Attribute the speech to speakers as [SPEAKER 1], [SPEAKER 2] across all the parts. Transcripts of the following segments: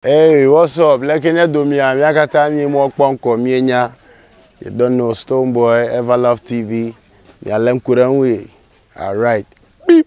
[SPEAKER 1] Hey what's up leke nye domia mía katã mí mɔ kpɔ ŋkɔ mí nya you don't know stone boy ever love tv mía le ŋku ɖe ŋui alright beep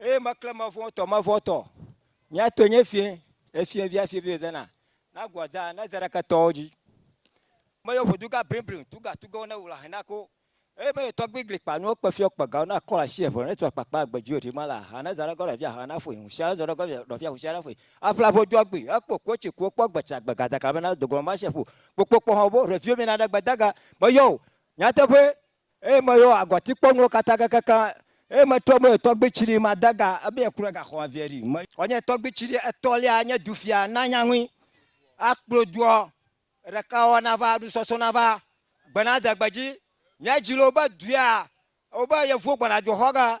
[SPEAKER 2] Eye mekle mevɔ tɔ mevɔ tɔ mia tɔe nye fiẽ efiẽ via fiẽ via zena na guadza na zereke tɔwo dzi me yɔ ƒodu ga brin brin tu ga tu gawo ne wula hɛn na ko eye me yɔ tɔ gbi gli kpa nuwo kpe fiɔ kpe gawo na kɔla si evo ne tɔ kpa kpa gbe dzi ma la ha na zana gɔ via ha na fui hu sia zɔ gɔ via via hu sia na fui afla vo dua gbi ekpo ko tsi ko kpɔ gbe tsa gbe gada kala me na dogo ma se fu kpokpo kpɔ hɔ bo revio mi na ɖe gbe daga me yɔ o nyateƒe Eye meyɔ agɔtikpɔnuwo katã kekekeŋ, eye metrɔ mɔ nye tɔgbui tsri made ga ebe ye klɔe gaxɔ aviɛ ɖi. Me. Vɔ nye tɔgbui tsri etɔlia, nye dufia, na nya ŋui, akplɔe doɔ ɖekawɔwɔ nava, nusɔsɔ nava, gbe nadze gbe dzi. Nye dzi le wobe duea, wobe yevuwo gbɔna dzoxɔge,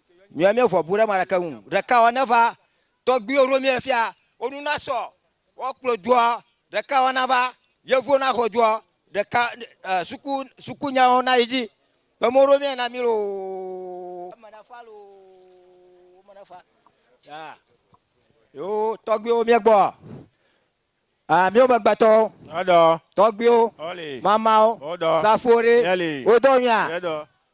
[SPEAKER 2] Mía mía vɔbu ɖe marake ŋu. Ɖeka ɔ neva tɔgbiwo ɖo mía fia wo nu na sɔ wɔ kplɔ dua ɖeka ɔ nava yevuwo na xɔ dua ɖeka e suku suku nyawo na yi dzi kpe mɔ ɖo mía na mí loo eme na fa loo eme na fa ya yo tɔgbiwo mía gbɔ a mía me gbe tɔwo tɔgbiwo mamawo safo ɖe wo dɔ mía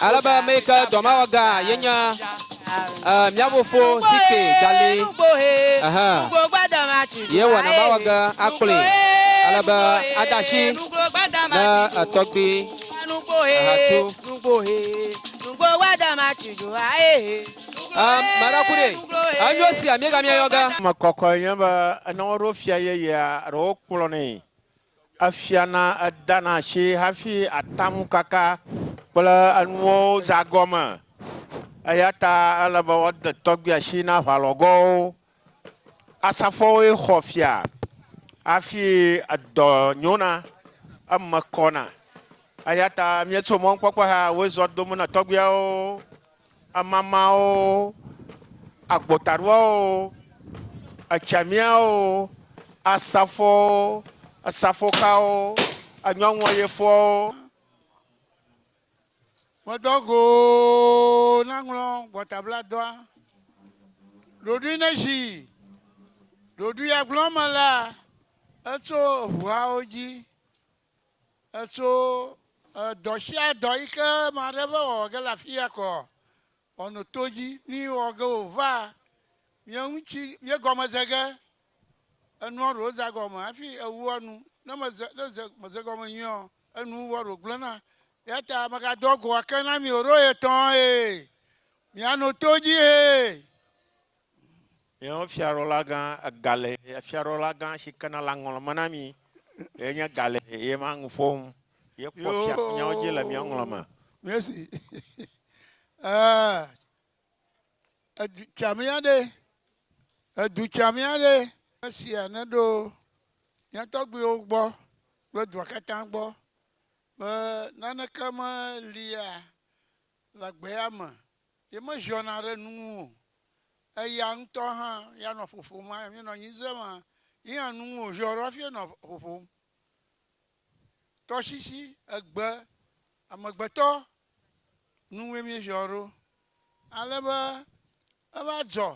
[SPEAKER 3] Ale be ame yi ke dɔ mawɔ ga ye nye mía fofo si ke gali ehe ye wɔna mawɔ ge akplɔe ale be ade asi ne etɔgbi ehatu. Am, mara ku ɖe. Enyo sia miega mia yɔga. Ame kɔkɔe nye
[SPEAKER 4] be ne woɖo fia yeyea ɖe wokplɔ nɛ efia na eda na asi hafi ata ŋu kaka kple enuwo zã gɔme. Eya ta ele be woade tɔgbia asi na aʋalɔgɔwo Asafoawoe xɔ fia hafi edɔ nyona, eme kɔna. Eya ta míetso mɔnukpɔkpɔ hea, wozɔ dom na tɔgbuiawo, emamawo, agbotaɖoawo, etsiamiawo, asafowo, esafokawo, enyɔnuayefoawo. Medɔ go
[SPEAKER 5] naŋlɔ gbɔtabladɔa. Ɖoɖoe neʒi ɖoɖoea gblɔme la, etso eŋuhawo dzi, etso edɔsiadɔ yi ke ame aɖe va wɔ ge le afi ya kɔ wɔnɔ to dzi. Ne wɔ ge wòva mía ŋuti, míegɔme ze ge enua ɖewo zã gɔme hafi ewua nu. Ne meze, ne ze, meze gɔme nyuie ɔ, Enu wɔɖo gblẽna, eya ta megadɔ go ake na mi o ɖo ɣetɔ ɣie miano to dzi hee.
[SPEAKER 4] Miawo fiaɖɔlagã egale, fiaɖɔlagã si kena le aŋɔlɔ me na mi ye nye gale, ye ma nu ƒom, ye kpɔ fia ƒe nyawo dzi le mia ŋlɔ me. Miesi
[SPEAKER 5] edu tsiamea ɖe, edu tsiamea ɖe. Esia neɖo mia tɔgbuiwo gbɔ Kple dua katã gbɔ, be naneke melia le agbea me, ye meziɔna ɖe nu ŋu o. Eya ŋutɔ hã ya nɔ ƒoƒom hafi míenɔ anyi ze ma, ye hã nu ŋu wòziɔ ɖo hafi nɔ ƒoƒom. Tɔsisi, egbe, amegbetɔ, nu ŋue míeziɔ ɖo. Ale be eva dzɔ,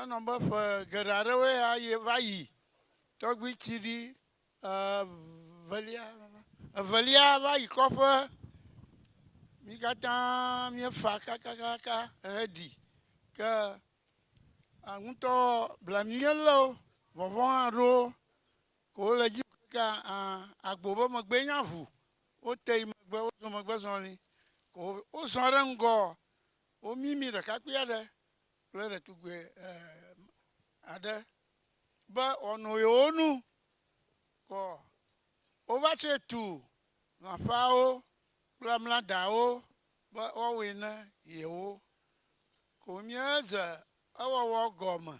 [SPEAKER 5] enɔ be ƒe geɖe aɖewoe ya va yi, tɔgbui tsiɖi Evelia, evelia va yi kɔƒe. Mi katã míefa kakakaka heɖi. Ke ŋutɔ blanui ye lé wo, vɔvɔ̃ hã ɖo wo. Ko wole dzi kaka aa agbo be megbee nya ŋu. Wote yi megbe, wozɔ megbe zɔli. Ko wozɔ ɖe ŋgɔ, womimi ɖekakpui aɖe kple ɖetugbui aɖe. be wòano yewo nu kɔ. Wova tsɔe tu lãƒeawo kple mladawo be woawɔe ne yewo. Ko míedze ewɔwɔ gɔme.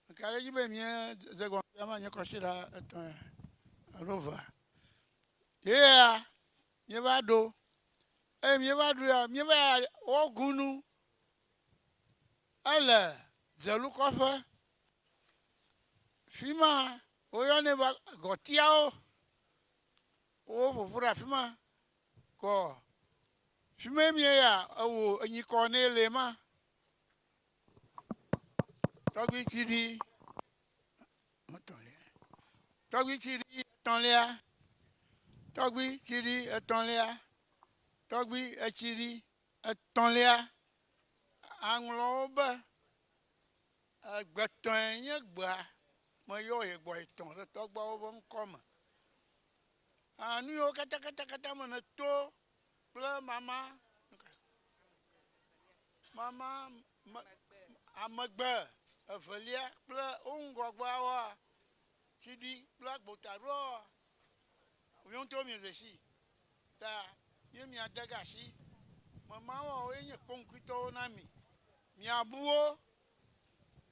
[SPEAKER 5] Meka ɖe edzi be míedze gɔme fifia manye kɔsiɖa etɔ̃ ya alo evea. Ye ya míeva ɖo eye míeva ɖo ya míeva ya wɔgunu ele dzelukɔƒe fi ma woyɔnɛ be gɔtiawo woƒoƒu ɖe afi ma kɔ fi ma mie ya ewò enyi kɔ nɛ le ma tɔgbi tsi ɖi etɔ̃lia tɔgbi tsi ɖi etɔ̃lia tɔgbi tsi ɖi etɔ̃lia tɔgbi etsi ɖi etɔ̃lia aŋlɔwo be Egbetɔe nye gbea meyɔ ye gbɔ yi tɔ ɖe tɔgbuiawo ƒe ŋkɔ me. Aa, nu yiwo katã, katã, katã me nèto kple mama, mama, me, amegbe, evelia kple wo ŋgɔgbeawoa, tsi ɖi kple agbotaɖoawoa, miwo ŋutɔwo miede sii. Ta ye miade ge asi me mawɔwɔwo ye nye kpɔnkpɔtɔwo na mi. Miabu wo,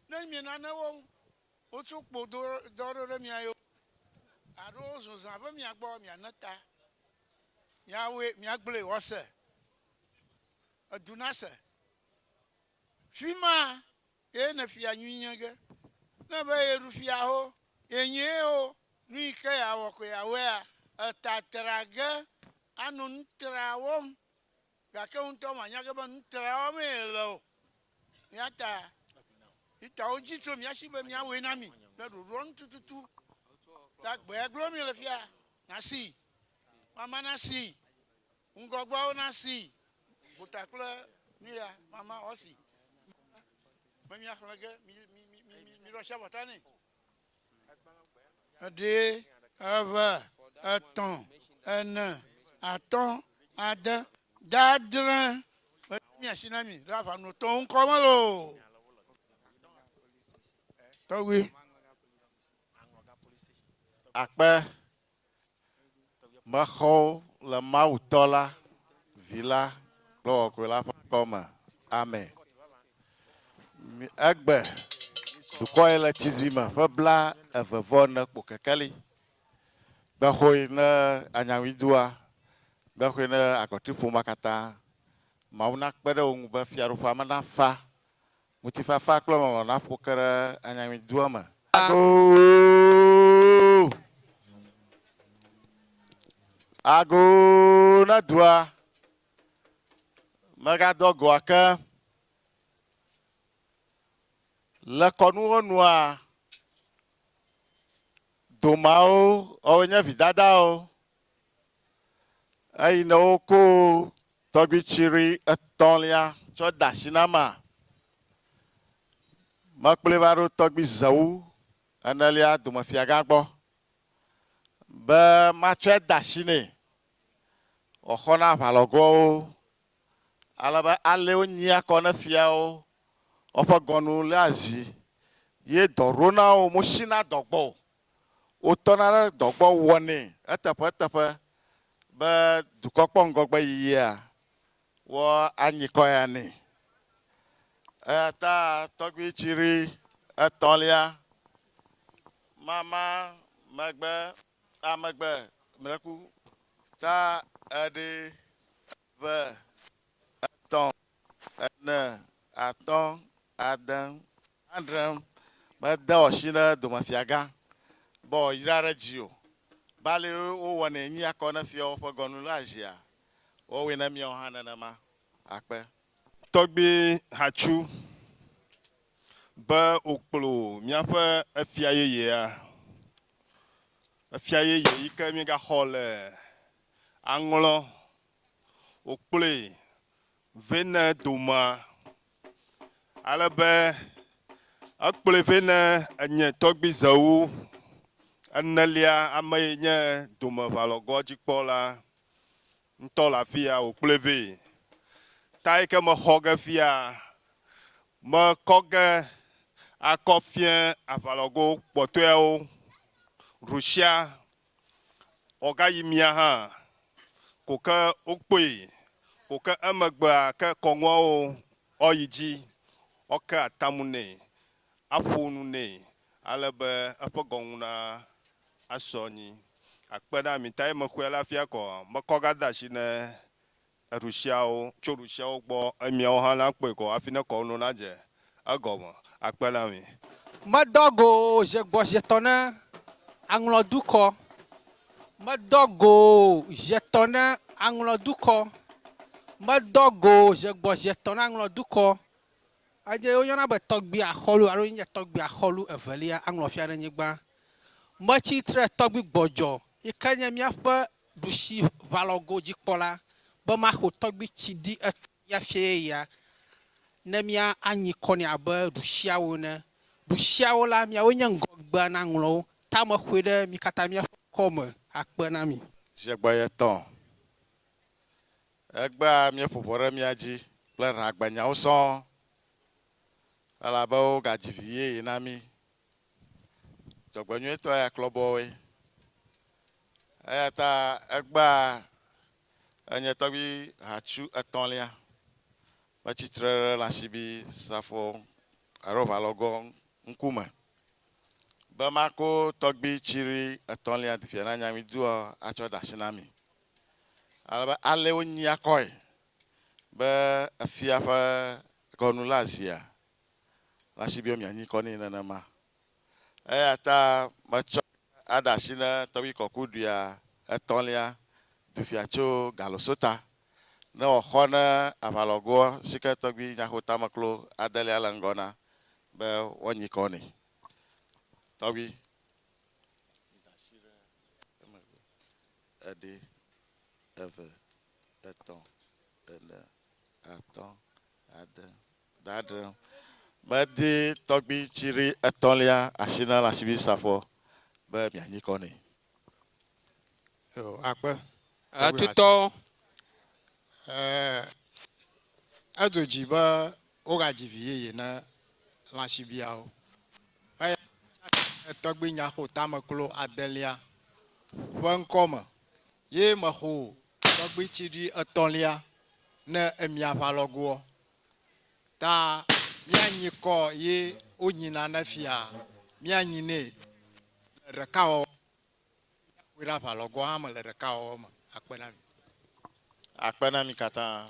[SPEAKER 5] ne mienane wo wotso kpo do dɔ ɖo ɖe mia yo alo wozun zã ve mia gbɔ, miane ta, miawɔe, miagblɔe wòase, edu nase. Fima Ye ne fia nyui nye ge, ne be ye ɖu fia ho, ye nyee ho, nuyi ke ya wɔ koe ya wɔea? Eta tra ge ano nu tra wɔm, gake wo ŋutɔ ma nya ge be nu tra wɔm ye le o. Eya ta Yuta-wo dzi tso mía shi be mía wɔe na mi le ɖoɖoa nu tututu. Ɖa gbea glo mi le fia, na sii, mama na sii. Ŋgɔgbeawo na sii, gota kple nuya mama wɔ si me mia xlẽ ge mi mi mi mi mi ɖɔ sia bɔta nɛ. Eɖe, eve, etɔ̃, ene, atɔ̃, ade, de adre. Me mi asi na mi ɖe aʋa no tɔwo ŋkɔ me loo. Tɔgbi.
[SPEAKER 4] Akpe Mexɔ wo le Mawu Tɔ la, Vi la kple Xɔxɔe la ƒe ŋkɔ me. Ame. Mi, egbe, dukɔ ye le tsi zi me ƒe bla eve vɔ ene kpo kekeli. Gbexoe ne anyaŋui dua, gbexoe ne agɔti ƒomea katã. Mawu na kpe ɖe wo ŋu be fiaɖuƒea me na fa Ŋutifafa kple lɔlɔ̃ naƒo ke ɖe anyaŋuidua me. Ago na dua, mègadɔ agoa ke. Le kɔnuwo nua, domeawo, woawoe nye vidadawo. Eyi ne woko tɔgbitsiɖi etɔ̃lia tsɔ de asi na mea, mekplɔe va ɖo tɔgbi zewu enelia domefiagã gbɔ be matsɔe ade asi nɛ wòaxɔ na aʋalɔgoawo, ale be alea wonyia kɔ na fiawo woƒe gɔnu léa zi, ye dɔ ɖona wo, mosina dɔ gbɔ o. wotɔna ɖe dɔ gbɔ wɔnɛ eteƒeteƒe be dukɔ kpɔ ŋgɔgbe yiyia, woanyikɔ ya nɛ. Eya ta tɔgbui Tsiri etɔ̃lia mama megbe a megbe mlɛku ta eɖe ve etɔ̃ ene atɔ̃ ade Adre mede ɔshi ne domefiagã be wòayra ɖe dzi o, be ale wowɔnɛ nyi akɔ ne fiawo ƒe gɔnu le azia, woawɔe ne miawo hã nenema akpe. Tɔgbi
[SPEAKER 6] Hachu, be wòkplɔ miaƒe efia yeyea, efia yeye yike miegaxɔ le aŋlɔ, wòkplɔe vɛ ne domea, ale be ekplɔe vɛ ne enye tɔgbizewo enelia ame yi nye domeʋalɔgoa dzikpɔla ŋutɔ le afia wòkplɔe vɛ. Ta yi ke mexɔ ge fia, mekɔ ge akɔ fiẽ aʋalɔgo kpɔtɔeawo, Rusia Ɔgayi mia hã ko ke okpoi ko ke emegbea ke kɔŋuawo ɔyi dzi ɔke atamu nɛ aƒo nu nɛ ale be eƒe gɔŋu na asɔ nyi akpe na mi ta ye mexɔe la fia kɔ mekɔ ga de asi ne Eɖusiawo, tso ɖusiawo gbɔ, eye miawo hã nakpɔe ko hafi ne kɔwo nu nadze egɔme akpe na mi. Medɔ go wò
[SPEAKER 3] zi gbɔ zi etɔ̃ ne àŋlɔ dukɔ, medɔ go wò zi etɔ̃ ne àŋlɔ dukɔ, medɔ go wò zi gbɔ zi etɔ̃ ne àŋlɔ dukɔ, eye woyɔna be tɔgbui axɔlu alo nye tɔgbui axɔlu evelia aŋlɔ Fiaɖenyigba. Metsi tre tɔgbui gbɔdzɔ yi ke nye míaƒe ɖusi ʋalɔgo dzikpɔla be maxo tɔgbi tsi ɖi etɔ ya fiaye ya ne mía anyi kɔ nɛ abe ɖusiawo ene. Ɖusiawo la, miawoe nye ŋgɔgbea na ŋlɔwo. Ta mexoe ɖe mi katã miaƒe ŋkɔ me akpe na mi. Zi egbɔyetɔ
[SPEAKER 4] egbea míeƒo ʋɔ ɖe mía dzi kple hlagbenyawo sɔŋ, elabe wogadzi vi yeye na mí Dzɔgbenyuitɔ ya klɔ bɔ woe. Eya ta egbea enye tɔgbi hatsu etɔ̃lia metsi tre ɖe Lasibi safo alo Ʋalɔgɔ ŋkume be mako tɔgbi tsiri etɔ̃lia dufia na Nyamiduɔ atsɔ de asi na mi. Ale be ale wonyia kɔe be efia ƒe gɔnulaazia. nasi be mianyi kɔ nɛ nenema. Eya ta metsɔ aɖe asi ne Tɔgbi Kɔkuɖia Etɔ̃lia dufia tso Galosota, ne wòaxɔ ne aʋalɔgoa si ke Tɔgbi Nyaxotameklo Adelia le ŋgɔ na be woanyi kɔ nɛ. Tɔgbi, mida asi ɖe emegbe. Eɖe, eve, etɔ̃, ene, atɔ̃, Ade. Dadre. Medi tɔgbui tsiri etɔ̃lia asi na Lasibi Safɔ be mianyi kɔ nɛ. Yo,
[SPEAKER 7] akpe. Atutɔ. E, edzo dzi be wogadzi vi yeye na Lasibiawo. Eya ta tɔgbui nyaxotame klo adelia ƒe ŋkɔ me. Ye mexo tɔgbui tsiɖi etɔ̃lia ne emi aʋalɔgoɔ, ta míanyi kɔ ye wonyina ne fia míanyi nɛ le ɖekawɔwɔ me. Míaƒoe ɖe aʋalɔgoa hã me le ɖekawɔwɔ me akpe na mi.
[SPEAKER 4] Akpe na mi katã.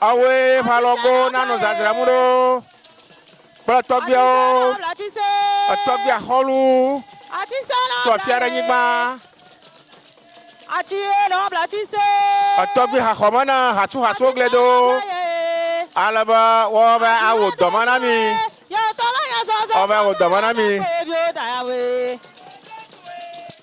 [SPEAKER 8] Awoe ƒe alɔgowo nanɔ zazram ɖo kple tɔgbuiawo, etɔgbuia xɔlu tso afia ɖe nyigba. Etɔgbui haxɔme na hatsuhatsuwo gblẽ do ale be wɔbe awo dɔme na mi. Wɔbe awo dɔme na mi.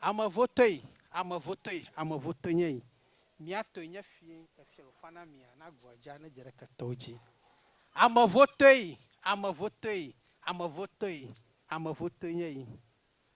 [SPEAKER 9] Ame vo toe, ame vo toe, ame vo toe nye yi. Mia toe nye fie, efie lo fana mia na gua dja ne dze ɖe ketɔwo dji. Ame vo toe, ame vo toe, ame vo toe, ame vo toe nye yi.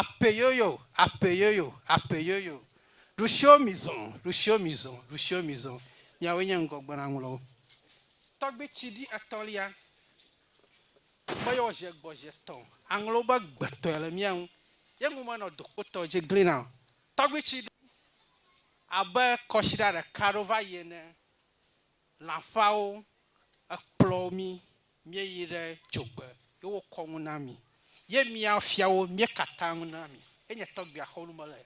[SPEAKER 9] Apeyoyo, apeyoyo, apeyoyo, ɖusio mizɔ, ɖusio mizɔ, ɖusio mizɔ, miawoe nye ŋgɔgbenaŋlɔwo. Tɔgbi tsi ɖi etɔlia be yewo ʒe gbɔ ʒe tɔ aŋlɔwo be gbetɔe le mía ŋu. Ye ŋu menɔ dokpotɔ dzi glina o. Tɔgbi tsi ɖi abe kɔsiɖa ɖeka ɖo va yi ene. lãfawo, ekplɔ mí míeyi ɖe dzogbe ye wokɔ nu na mí ye mía fiawo míekata nu na mí. Ye nye tɔgbuia xɔ nu me le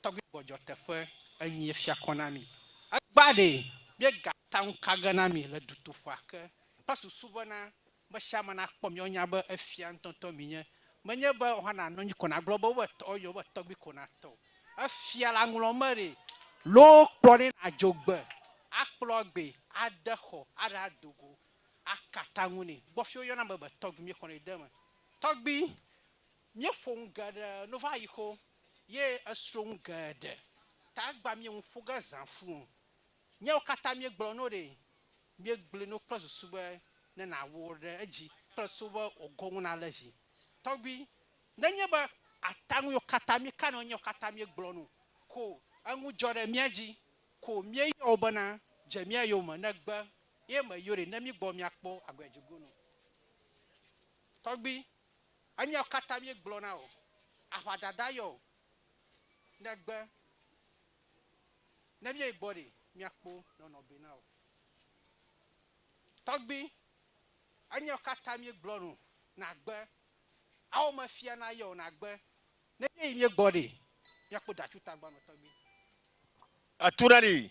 [SPEAKER 9] tɔgbui gbɔdzɔ teƒe enyi ye fia kɔ na mí. Egbã ɖee, míegata nu ka ge na mí le dutoƒea ke kple susu bena Me sia me nakpɔ mi woanya be efia ŋutɔŋutɔ menye. Menye be wohã nanɔ anyi ko nagblɔ be wova tɔ eye wobe tɔgbi ko natɔ o. Efia la ŋlɔ me ɖi loo kplɔ nɛ nàdzo gbe, akplɔ agbee, ade xɔ, aɖe ado go, aka ataŋu nɛ. Gbɔfi woyɔna ame be tɔgbi míexɔnɛ de eme. Tɔgbi, míeƒo nu geɖe no va yi xo ye esro nu geɖe ta egbea míeŋu ƒo ge zã fũ o. Míawo katã míegblɔ na wo ɖe, míegblɔe na wo kple susu be ne nàwu wo ɖe edzi kple susu be wò go ŋu nalé dzi. Tɔgbui, nenye be ata ŋu yiwo katã míeka na wo nye wo katã míegblɔ na wo ko o, eŋu dzɔ ɖe mía dzi ko míeyɔ wo bena, Dze mía yome ne gbe ye me yɔ ɖe, ne mígbɔ míakpɔ agbe dzigunu. Tɔgbui, enye wo katã míegblɔ na wò, aʋadada yɔ o, ne gbe. Ne míeyi gbɔ ɖe, míakpɔ nɔnɔ be na wò. Tɔgbi, enyawo katã míegblɔ nu nàgbe, ao me fia na yɔ nàgbe. Ne míeyi míegbɔ ɖe, míakpɔ ɖacu tagba nɔ tɔgbi.
[SPEAKER 6] Etu ɖa ɖi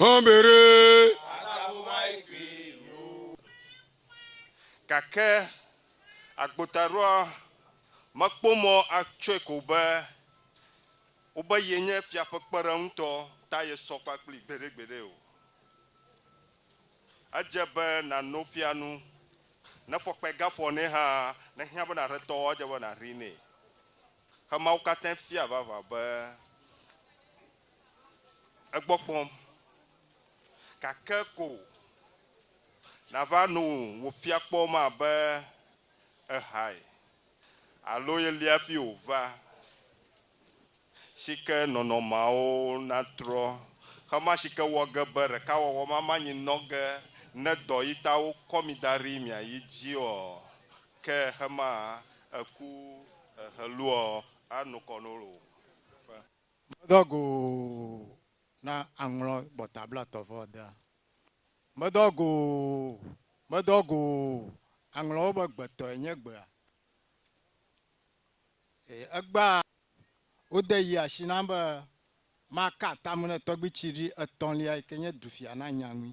[SPEAKER 10] Hɔnbere.
[SPEAKER 6] Gake agbotaɖoa mekpɔ mɔ atsɔe ko be wobe ye nye fia ƒe kpeɖeŋutɔ ta yesɔ kpa kplii gbeɖegbeɖe o. Edze be nàno fia nu. Ne fɔkpae gafɔ nɛ hã, nehiã be nàɖe tɔ o, edze be nàhee nɛ. Ke Mawu katã fia vavã be egbɔ kpɔm. Gake ko nàva nu wòfia kpɔ ma be ehae alo yeli hafi wòva, si ke nɔnɔmeawo natrɔ xe ma si ke wɔ ge be ɖekawɔwɔ ma manyi nɔ ge ne dɔ yi ta wokɔ mi da ɖi miayi dzi ɔ. Ke hema eku heluɔ anukɔ no lo ƒe. Medɔ go
[SPEAKER 7] na aŋlɔ gbɔta blatɔ vɔ dea. Medɔ go, medɔ go aŋlɔwo be gbetɔe nye gbea. Eye egbea wode yi ashi nam be maka atam ne tɔgbi tsiɖi etɔ̃lia yi ke nye dufia na nya ŋui.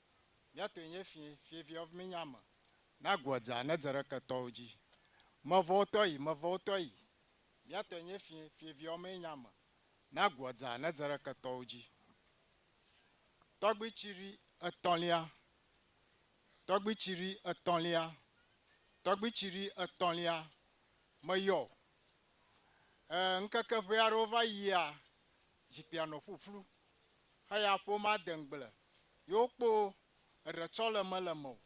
[SPEAKER 7] Mía tɔe nye fiẽ, fiẽvia ɔv menye ame. Na goa dze anedze ɖe ketɔwo dzi. Mevɔwotɔ yi, mevɔwotɔ yi. Mía tɔe nye fiẽ, fiẽvia ɔv menye ame. Na goa dze anedze ɖe ketɔwo dzi. Tɔgbi tsiri etɔ̃lia, tɔgbi tsiri etɔ̃lia, tɔgbi tsiri etɔ̃lia, meyɔ o. Ɛɛ, ŋkeke ʋɛ aɖewo va yia, zikpuia nɔ ƒuƒlu. Eya ƒomea de ŋgble yewo kpo eɖe tsɔ le me le me o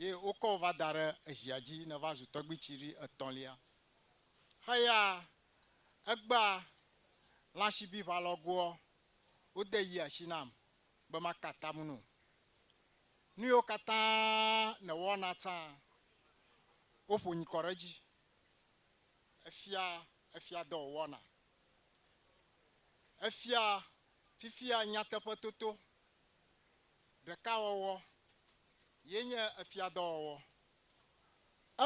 [SPEAKER 7] ye wokɔ wo va da ɖe ezia dzi ne va zu tɔgbui tsi ɖi etɔlia. Eya egbea lãshibi ʋa lɔ goɔ wo de yia shi nam be ma ka atam no. Nu yewo katã ne wɔ na tsã wo ƒo nyikɔ ɖe edzi. Efia efia dɔ wo wɔna. Efia fifia nyateƒetoto ɖeka wɔwɔ ye nye efiadɔwɔwɔ.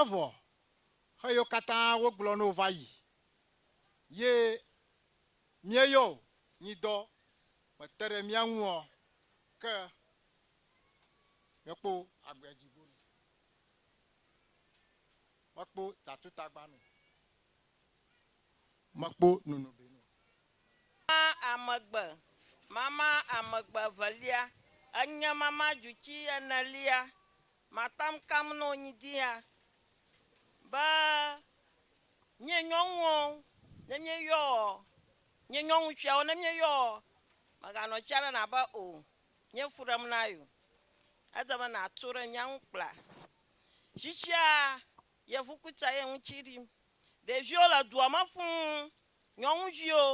[SPEAKER 7] Evɔ xeyiwo katã wogblɔ no va yi ye mieyɔ o nyi dɔ mete ɖe mia ŋu ɔ, ke miekpo agbea dzi bonu, mekpo tatutagbanu. makpɔ nono be no. Mama amegbe,
[SPEAKER 11] mama amegbe evelia, enye mama djutsi enelia, matam kam no nyi dia be
[SPEAKER 12] mie nyɔnuwo ne mie yɔ ɔ, mie nyɔnu tsiawo ne mie yɔ ɔ, mega nɔ tsia ɖe na be o, mie fu ɖem na yo, ede be na to ɖe mia ŋu kpla. Tsitsia Yevu kutsa ye ŋutsi ɖim. Ɖeviwo le dua me fũu, nyɔnuviwo,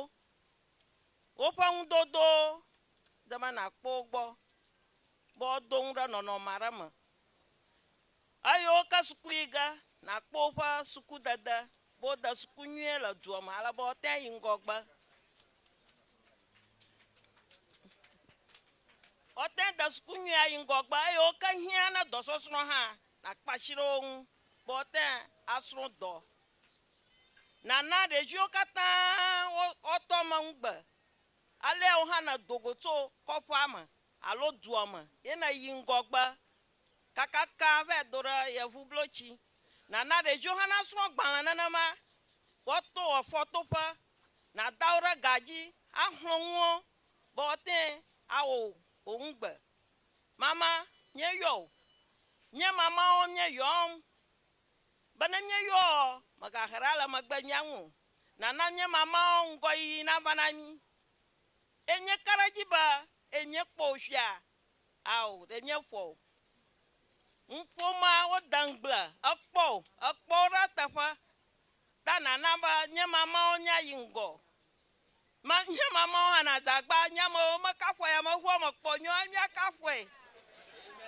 [SPEAKER 12] woƒe nudodowo de be nàkpɔ wo gbɔ be woado nu ɖe nɔnɔme aɖe me. Eyiwo ke suku yi ge, nàkpɔ woƒe sukudede be wode suku nyuie le dua me ale be woate ŋu ayi ŋgɔgbe. Woate ŋu ade suku nyuie ayi ŋgɔgbe. Eyiwo ke hiã na dɔsɔsrɔ̃ hã, Nàkpa asi ɖe wo ŋu be woate ŋu asrɔ̃ dɔ. Nàna ɖeviwo katã woatɔ eme ŋugbe. Alea wò hã nèdo go tso kɔƒea me alo dua me ye nèyi ŋgɔgbe kakaka va do ɖe yevublotsi. Nàna ɖeviwo hã nasrɔ̃ agbalẽ nenema be woato wò afɔtoƒe. Nàda wo ɖe ga dzi axlɔ̃ nuwo be woate ŋu awɔ wò ŋugbe Mama, míeyɔ wò. Nye mamawo míeyɔm. Be ne míeyɔɔ, mègahe ɖa le megbe mía ŋu o. Nàna mía mamawo ŋgɔyiyi nava na mí. Eye míeka ɖe edzi be, eye míekpɔ wò fia. Ao, ɖe míefɔ wò. Ŋuƒomea, wode ŋugble, ekpɔ wò, ekpɔ wo ɖe eteƒe. Ta nàna be nye mamawo míayi ŋgɔ. Ma nye ma mɔ hana dagba nya me o me kafue ya me ʋua me kpɔ nyɔ anya kafue.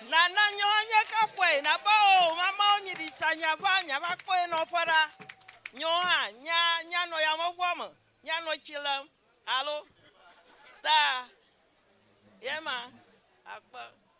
[SPEAKER 12] Na na nyɔ anya kafue na ba o ma ma o nyi di tsa nya va nya va kpɔ enɔ ƒe ra. Nyɔ ha nya nya nɔ ya me ʋua me nya nɔ tsi le alo ta. Yema akpa.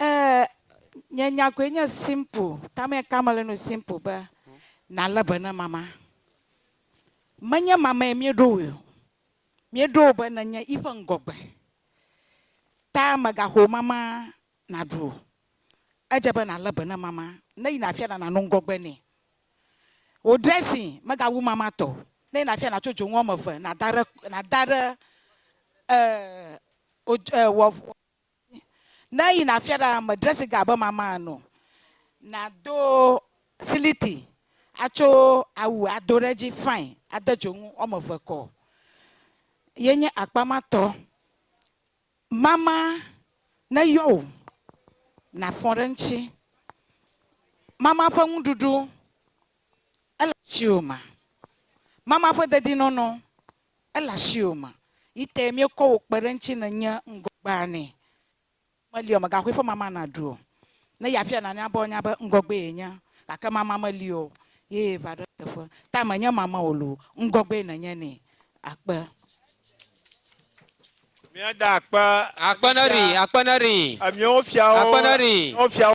[SPEAKER 13] Eee, nye nyagoe nye simple, tamɛ ka mele nu simple be nalé be ne mama. Menye mamɛ míeɖo woe o, míeɖo wo be nenye yiƒe ŋgɔgbe ta mègaxɔ wo mama naɖu o. Edze be nalé be ne mama, ne yina afi aɖe nano ŋgɔgbe nɛ. Wò dressing megawu mama tɔ o. Ne ye nàfia nàtso dzonu woame eve nàda ɖe nàda ɖe wò Ne eyi nàfia ɖe ame dressing ga abe mama ene o. Nàdo siliti atso awu ado ɖe edzi fine ade dzonu woame eve kɔ. Ye nye akpa ma tɔ. Mama neyɔ wò nàfɔ ɖe eŋuti. Mama ƒe nuɖuɖu ele asiwò me. Mama ƒe dedinɔnɔ ele asiwò me. Yi tae míekɔ wò kpe ɖe eŋuti nènye ŋgɔgbea nɛ. Meli o, mègaxɔe ƒe mama nàɖu o. Ne yeafia nane be woanya be ŋgɔgbee yenye, gake mama meli o, ye va ɖe eteƒe. Ta menye mama wò loo, ŋgɔgbee nènye nɛ. Akpe.
[SPEAKER 8] Míada akpe.
[SPEAKER 3] Akpe neɖi, akpe neɖi.
[SPEAKER 8] Emiawo fiawo, akpe neɖi. Emiawo fiawo.